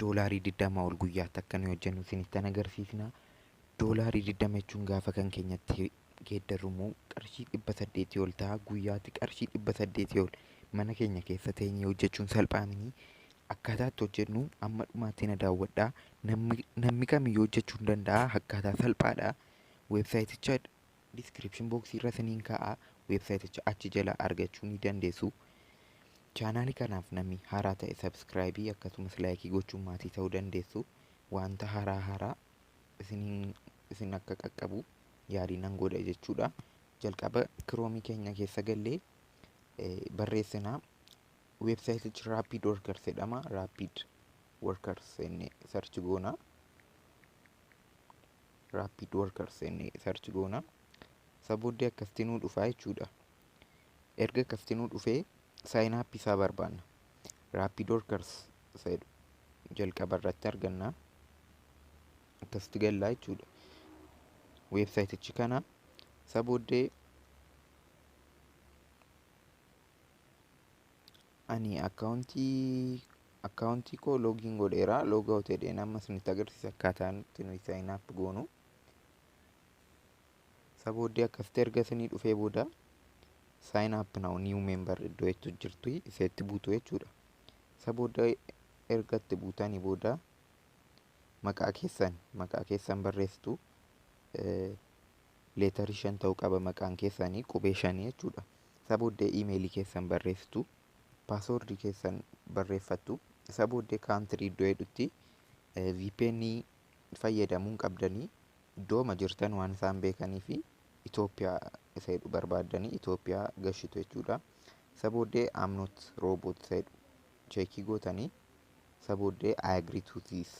doolaarii 20 ol guyyaatti akka nuyi hojjennu isinittan agarsiisna. Doolaarii 20 jechuun gaafa kan keenyatti geeddarrumu qarshii 800 ol ta'a. Guyyaatti qarshii 800 ol mana keenya keessa teenyee hojjechuun salphaa miti. Akkaataa itti hojjennu amma dhumaatti na daawwadhaa. Namni, namni kamiyyuu hojjechuu ni danda'a. Akkaataa salphaadha. Weebsaayiticha Description box irra isiniin kaa'a websayiticha achi jala argachuu ni dandeessu. Chaanaali kanaaf namni haaraa ta'e subscribe akkasumas like gochuun maatii ta'uu dandeessu. Wanta haaraa haaraa isiniin isin akka qaqqabu yaalii nan godha jechuudha. Jalqaba kiroomii keenya keessa gallee barreessinaa websayitichi rapid workers jedhama rapid workers inni search goona. Rapid workers inni search goona. Isa booddee akkasitti nuu dhufaa jechuudha. Erga akkasitti nuu dhufee sign up isaa barbaanna. Rapid workers isa jedhu jalqaba irratti arganna. Akkasitti gallaa jechuudha. Weebsaayitichi kana isa booddee Ani akkaawuntii koo loogiin godheera loog awuut jedheen amma isinitti agarsiisa akkaataa nuti nuyi saayin ap goonu. Isa booddee akkasitti erga isinii dhufee booda saayin ap nawu niiw meembar iddoo jettu jirti isa itti buutu jechuudha. Isa booda erga itti buutanii booda maqaa keessan maqaa keessan barreessitu. leetarii shan ta'uu qaba maqaan keessanii qubee shanii jechuudha. Isa booddee iimeelii keessan barreessitu, paaswoordii keessan barreeffattu, isa booddee kaantirii iddoo jedhutti VPN fayyadamuu hin qabdanii iddooma jirtan waan isaan beekanii fi Itoophiyaa isa jedhu barbaaddanii Itoophiyaa gashitu jechuudha. Isa booddee amnoot rooboot isa jedhu cheekii gootanii isa booddee I agree to this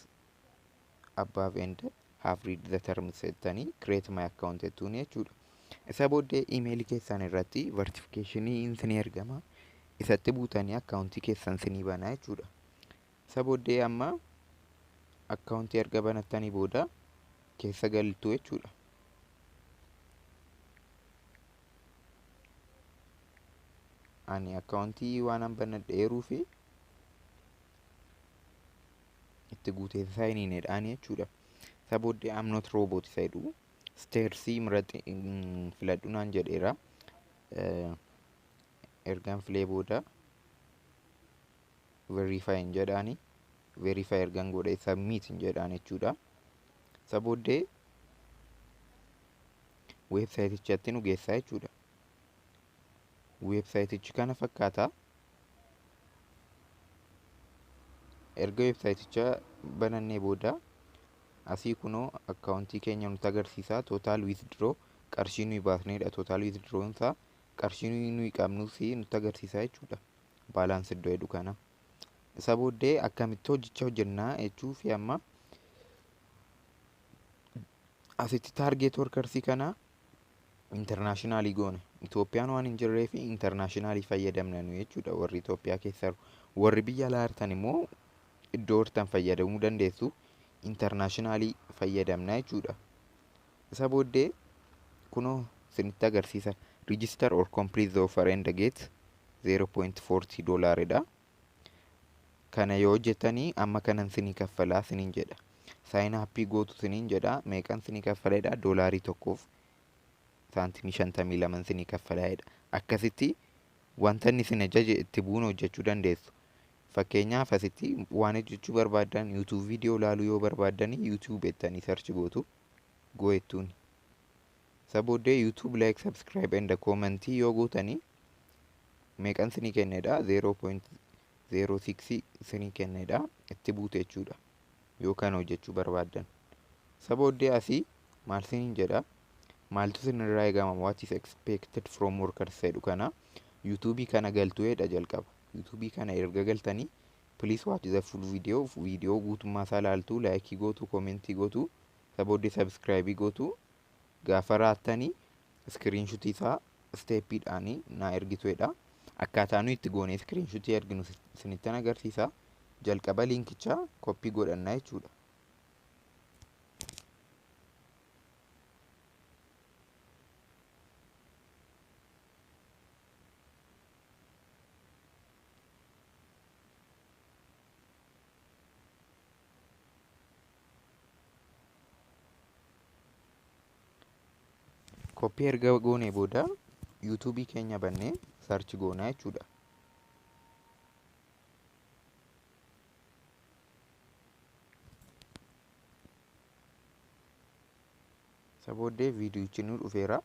above and have read the terms jettanii create my account jettuun jechuudha. Isa booddee imeelii keessan irratti vertification isinii ergama. Isatti buutanii akkaawuntii keessan isinii banaa jechuudha. Isa booddee amma akkaawuntii erga banattanii booda keessa galtu jechuudha. Ani akkaawuntii waan banadheeruu fi itti guutee isaa hin hineedhaan jechuudha. Isa booddee I'm not robot isa jedhu steersii murati filadhu naan jedheera. Ergaan filee booda verify hin jedhaani. Verify ergaan godhee submit hin jedhaan jechuudha. Isa booddee weebsaayitichatti nu geessaa jechuudha. weebsaayitichi kana fakkaata. Erga weebsaayiticha banannee booda asii kunoo akkaawuntii keenya nutti agarsiisa. Tootaal wiizdroo qarshii nuyi baasneedha. Tootaal wiizdroon isaa qarshii nuyi qabnus nutti agarsiisa jechuudha. Baalaans iddoo jedhu kana. Isa booddee akkamitti hojjechaa hojjennaa jechuu fi amma asitti taargeet workarsii kana internationally goona Itoophiyaan waan hin jirree fi internationally fayyadamna nu jechuudha warri Itoophiyaa keessa jiru. warri biyya alaa jirtan immoo iddoo jirtan fayyadamuu dandeessu internationally fayyadamna jechuudha isa booddee kunoo isinitti agarsiisa register or complete the offer and get 0.40 dollar dha Kana yoo jettanii amma kanan sinii kaffalaa sinin jedha. Saayin appii gootu sinin jedha. Meeqan sinii kaffala jedha doolaarii tokkoof saantimii shantamii laman sinii kaffala jedha. Akkasitti wanta inni sin ajaje itti bu'uun hojjechuu dandeessu. Fakkeenyaaf asitti waan hojjechuu barbaaddan YouTube viidiyoo ilaaluu yoo barbaaddan YouTube jettanii sarchi gootu go'ettuuni. Isa booddee YouTube like subscribe and comment yoo gootanii meeqan sinii kennedha 0.06 sinii kennedha itti buute jechuudha yoo kan hojjechuu barbaaddan isa booddee asii maal siniin jedha maaltu sinirraa eegama what is expected from workers jedhu kana yuutuubii kana galtuu jedha jalqaba yuutuubii kana erga galtanii please watch the full video video guutummaa isaa laaltuu laayikii gootu koomentii gootu isa booddee sabskraayibii gootu Gaafa raattani iskiriinshutii isaa isteeppiidhaan naa ergitu jedha. Akkaataa nuyi itti goonee iskiriinshutii erginu isinittan agarsiisa. Jalqaba liinkichaa koppii godhanna jechuudha. Koppii erga goonee booda yuutuubii keenya bannee sarchi goonaa jechuudha. Isa booddee viidiyichi nu dhufeera.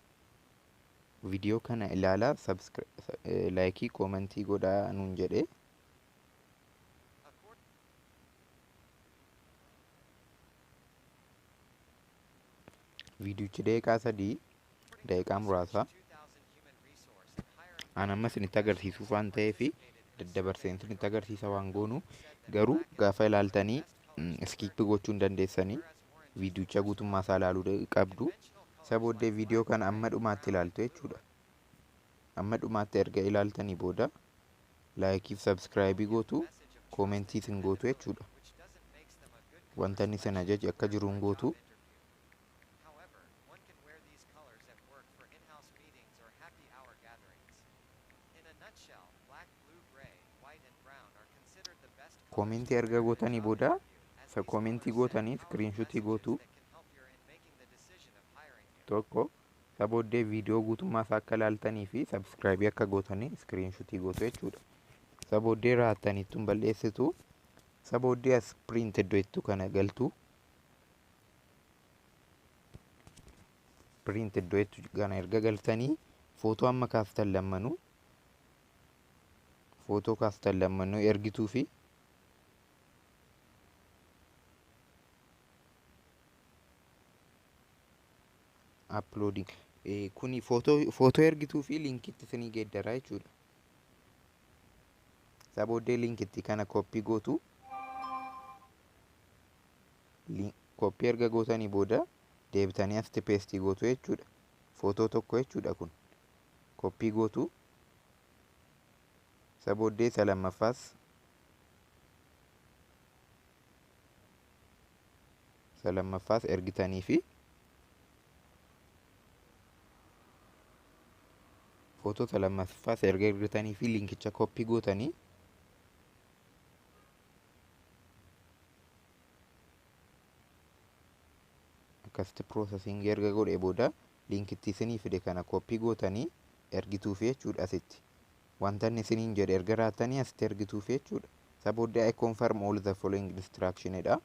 Viidiyoo kana ilaalaa laayikii koomentii godhaa nuun jedhee. viidiyochi daqiiqaa sadii daqiiqaa muraasa aan amma isinitti agarsiisuuf waan ta'eef daddabarsee isinitti agarsiisa waan goonu garuu gaafa ilaaltanii iskiippi gochuu hin dandeessanii viidiyocha guutummaa isaa ilaaluu qabdu isa booddee viidiyoo kana amma dhumaatti ilaaltu jechuudha amma dhumaatti erga ilaaltanii booda Laayikii fi sabskraayibii gootu, koomentiis hin gootu jechuudha. Wanta inni isin ajaje akka jiru hin gootu. Koomentii erga gootanii booda isa koomentii gootanii iskiriinshuutii gootu. Tokko Isa booddee viidiyoo guutummaa isaa akka ilaaltanii fi sabskraayibii akka gootanii iskiriinshutii gootu jechuudha. Isa booddee raattanii ittiin bal'eessitu. Isa booddee as piriint iddoo jettu kana galtu. Piriint iddoo jettu kana erga galtanii footoo amma kaastan lammanuu footoo kaastan lammanuu ergituu fi Uploading. Eh, Kuni footoo footoo ergituu fi linkitti isinii geeddaraa jechuudha. Isaa booddee linkitti kana kooppii gootu. Lin- Kooppii erga gootanii booda deebitanii asitti peestii gootu jechuudha. Footoo tokko jechuudha kun. Kooppii gootu. Isa booddee isa lammaffaas isa lammaffaas ergitanii fi footoo isa lammaffaas erga ergitanii fi linkicha koppii gootanii akkasitti piroosesiingii erga godhee booda linkitti isinii fide kana koppii gootanii ergituufi jechuudha asitti. Wanta inni isiniin jedhe erga raattanii asitti ergituufi jechuudha. Isa booddee I confirm all the following instruction dha.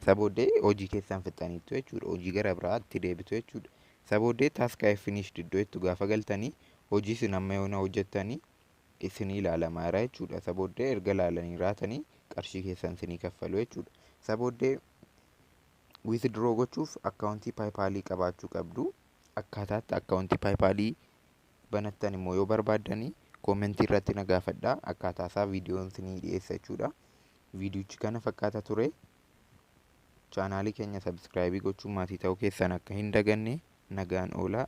Isa booddee hojii keessan fixxaniittu jechuudha. Hojii gara biraatti deebitu jechuudha. Isa booddee task I finished iddoo jettu gaafa galtanii hojii isin amma yoona hojjettanii isinii ilaalamaa jira jechuudha. Isa booddee erga ilaalanii raatanii qarshii keessan isinii kaffalu jechuudha. Isa booddee withdraw gochuuf akkaawuntii paayipaalii qabaachuu qabdu. Akkaataatti akkaawuntii paayipaalii banattan immoo yoo barbaaddanii koomentii irratti na gaafadhaa. Akkaataa isaa viidiyoon isinii dhiyeessa jechuudha. viidiyochi kana fakkaata ture. Chaanaalii keenya sabiskiraayibii gochuun maatii ta'uu keessan akka hin daganne nagaan oolaa.